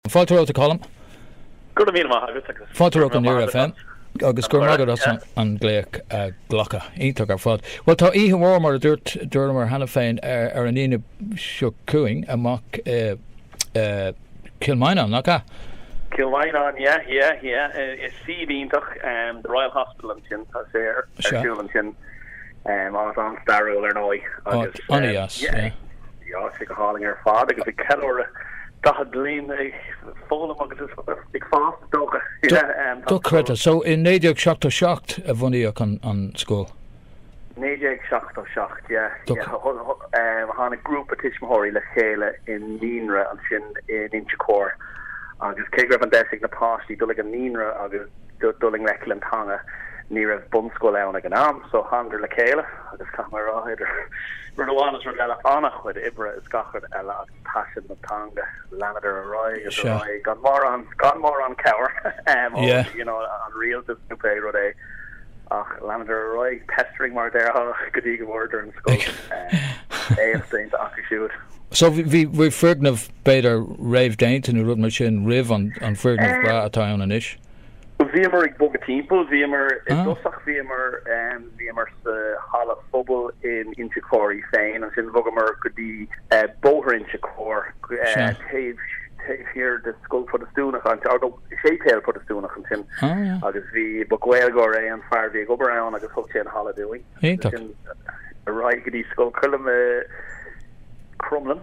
Fáilte romhat, a Choilm. Go raibh míle maith agat agus. Fáilte romhat go Near FM agus go raibh maith agat as an glaoch a ghlacadh. Iontach ar fad. Bhuel tá oíche mhór mar a dúirt, dúramar cheana féin ar an Aoine seo chugainn amach i gCill Mhaighneann, nach ea? Cill Mhaighneann, yeah, yeah, yeah. Is suíomh iontach, the Royal Hospital ansin, tá sé ar siúl ansin. Áit an-stairiúil, ar ndóigh. Áit an-deas, yeah. Áit go hálainn ar fad agus ag ceiliúradh 40 bliain ag foghlaim agus ag fás. Dochreidte. So i 1977 a bunaíodh an scoil? 1977, yeah. Tháinig grúpa tuismitheoirí le chéile i naíonra ansin in Inse Chór agus cé go raibh an deis ag na páistí dul ag an naíonra agus do dul i ngleic leis an teanga. Ní raibh bunscoil ann ag an am so thángadar le chéile agus caithfidh mé a rá, idir rud amháin is rud eile, an-chuid oibre is gach rud eile agus paisean don teanga. Leanadar ar aghaidh is ar aghaidh gan mórán, gan mórán cabhair ó you know an rialtas nó pé rud é ach leanadar ar aghaidh, pestering mar a déarfá, go dtí go bhfuaireadar an scoil. Éacht déanta acu siúd. So bhí foirgneamh b'fhéidir réamhdéanta nó rud mar sin, roimh an foirgneamh breá atá ann anois? Bhíomar ag bogadh timpeall, bhíomar, i dtosach bhíomar, bhíomar sa halla phobail in Inse Chór í féin, ansin bhogamar go dtí Bóthar Inse Chór, taobh thiar de Scoil Phrotastúnach, an, Séipéal Protastúnach ansin agus bhí, ba Ghaeilgeoir é an fear a bhí ag obair ann agus thug sé an halla dúinn. Iontach. Ar aghaidh go dtí Scoil Choilm, Crumlin.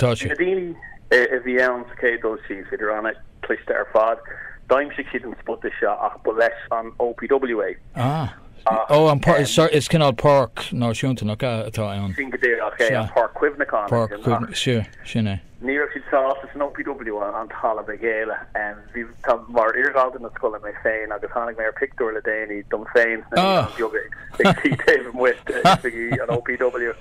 Tá Bhí sé. na daoine a bhí ann sa chéad dul síos bhíodar ana-chliste ar fad. D'aimsigh siad an spota seo ach ba leis an OPW é. Ah. Ach Ó, an páirc, em. so, is cineál páirc náisiúnta, nach ea, atá ann? Sin go díreach é, Sea. an Páirc Cuimhneacháin Páirc ansin ach. cuimhne, sea, sin é. ní raibh siad sásta san OPW an talamh a ghéilleadh. Bhí, tá, mar iardhalta na scoile mé féin agus tháinig mé ar pictiúr le déanaí díom féin sna naíonáin bheaga ag suí taobh amuigh d'oifigí an OPW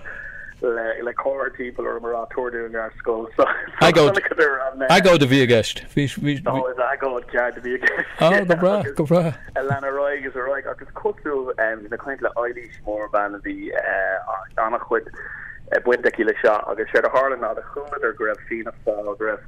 le, le comhartha timpeall orm ag rá Tabhair dúinn ár scoil. So, so chonaic a bhí an, eh. Agóid a bhí i gceist. Bhí, bhí, bhí. Ó, is agóid ceart a bhí i gceist. Á, go breá, go breá. Agus lean ar aghaidh is ar aghaidh ach is cosúil, eh, bhí mé ag caint le Eilís Moore, bean a bhí, eh, an-chuid baint aici le seo agus séard a tharla ná do chualadar go raibh Fianna Fáil, go raibh,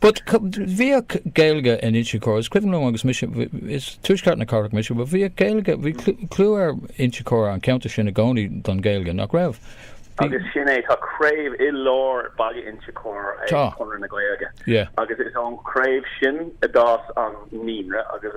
But bhíodh Gaeilge in Inse Chór, is cuimhin liom agus mise, is as tuaisceart na cathrach mise, but bhíodh Gaeilge, bhí clú ar Inse Chór, an ceantar sin i gcónaí don Ghaeilge, nach raibh? Agus sin é, tá craobh i lár baile Inse Chór ag Conradh na Gaeilge agus is ón chraobh sin a d'fhás an naíonra agus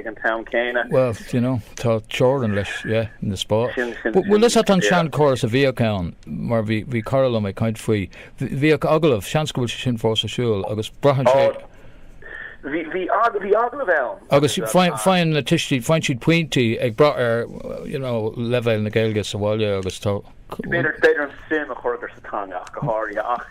ag an t-am céanna. Well, you know, tá teorainn leis, yeah, na spá. Sin, sin, Bhuel, is ea, tá an sin, yeah. seanchóras a bhíodh ann, mar bhí, bhí cara liom a chaint faoi, bhí, bhíodh agallamh, seans go bhfuil sé sin fós ar siúl, agus braitheann sé, Ádh. Bhí, bhí, ag, bhí agallamh ann, agus, agus faigheann, um, faigheann na tuistí, faigheann siad pointí ag brath ar, you know, leibhéal na Gaeilge sa bhaile agus tá, bhí, b'fhéidir, b'fhéidir an suim a chuirfeadar sa teanga ach go háirithe, ach.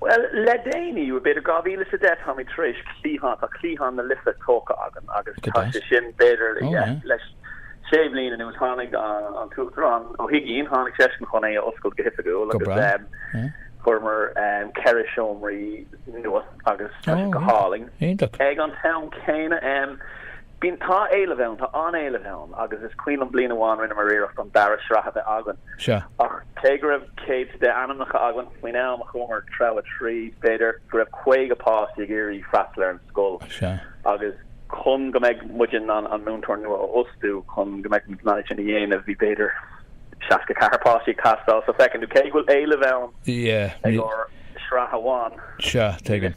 Bhuel, le déanaí, b'fhéidir 2000 is a deich, táimid tar éis cliathán, tá cliathán na Life tógtha againn agus tá sé sin b'fhéidir le deich, le sé bhliain anuas, tháinig an tUachtarán Ó hUigínn, tháinig seisean chun é a oscailt go hoifigiúil agus chuireamar ceithre seomraí nua agus tá sé go hálainn. Iontach. Ag an t-am céanna. Bíonn, tá éileamh ann, tá an-éileamh ann agus is cuimhin liom bliain amháin rinneamar iarracht an dara sraith a bheith againn ach cé go raibh céad de ainmneacha againn faoin am a chuamar ag treabhadh tríd b'fhéidir go raibh caoga páistí ag iarraidh freastal ar an scoil agus chun go mbeidh muid in ann an múinteoir nua a fhostú chun go mbeidh muid in ann é sin a dhéanamh bhí b'fhéidir seasca ceathair páistí ag teastáil so feiceann tú cé go bhfuil éileamh ann ag an sraith amháin. Sea, tuigim.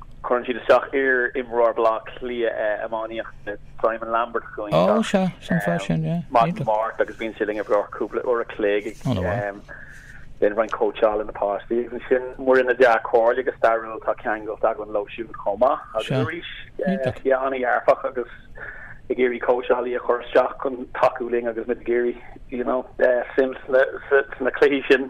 Cuireann siad isteach iar-imreoir Bhaile Átha Cliath, iománaíocht, Simon Lambert chugainn anseo. Ó, sea, is an fear sin, yeah. Maidin Iontach. Mháirt agus bíonn sé linn i gcomhair cúpla uair a chloig ag Ó, na bhfad. déanamh roinnt cóitseála leis na páistí. Agus ansin Muire na Dea-Chomhairle go stairiúil, tá ceangal againn leo siúd chomh maith. Agus Sea. arís, Iontach. bíonn siad an-dearfach agus ag iarraidh cóitseálaí a chur isteach chun tacú linn agus muid ag iarraidh, you know, suim sna sna cluichí sin.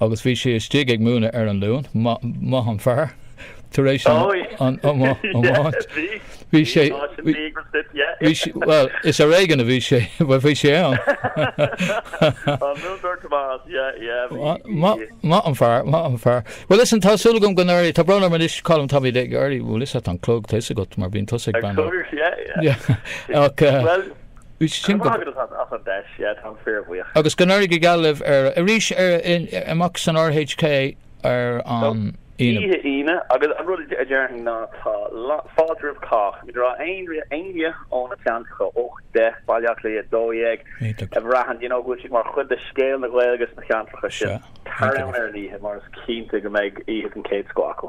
agus bhí sé istigh ag múineadh ar an Luan, maith an fear, tar éis an iomáint. Bhí sé, bhuel, is ar éigean a bhí sé, bhuel, bhí sé ann. Maith an fear, maith an fear. Bhuel, listen, tá súil agam go n-éirí, tá brón orm anois, Colm, tá mé ag éirí, bhuel, is é tá an clog, tá fhios agat, mar a bhíonn tusa ag breathnú. Tá, tá, tá. Bhuel, Sin go. Agus go n-éirí go geal libh arís ar an imeacht san RHK ar an Aoine. Oíche Aoine agus an rud a déarfainn ná tá fáilte roimh cách. Má tá éinne ó na ceantracha, 8, 10, Baile Átha Cliath 12, a bhraitheann you know go bhfuil siad mar chuid de scéal na Gaeilge sna ceantracha sin, tar ann ar an oíche mar is cinnte go mbeidh oíche den chéad scoth acu.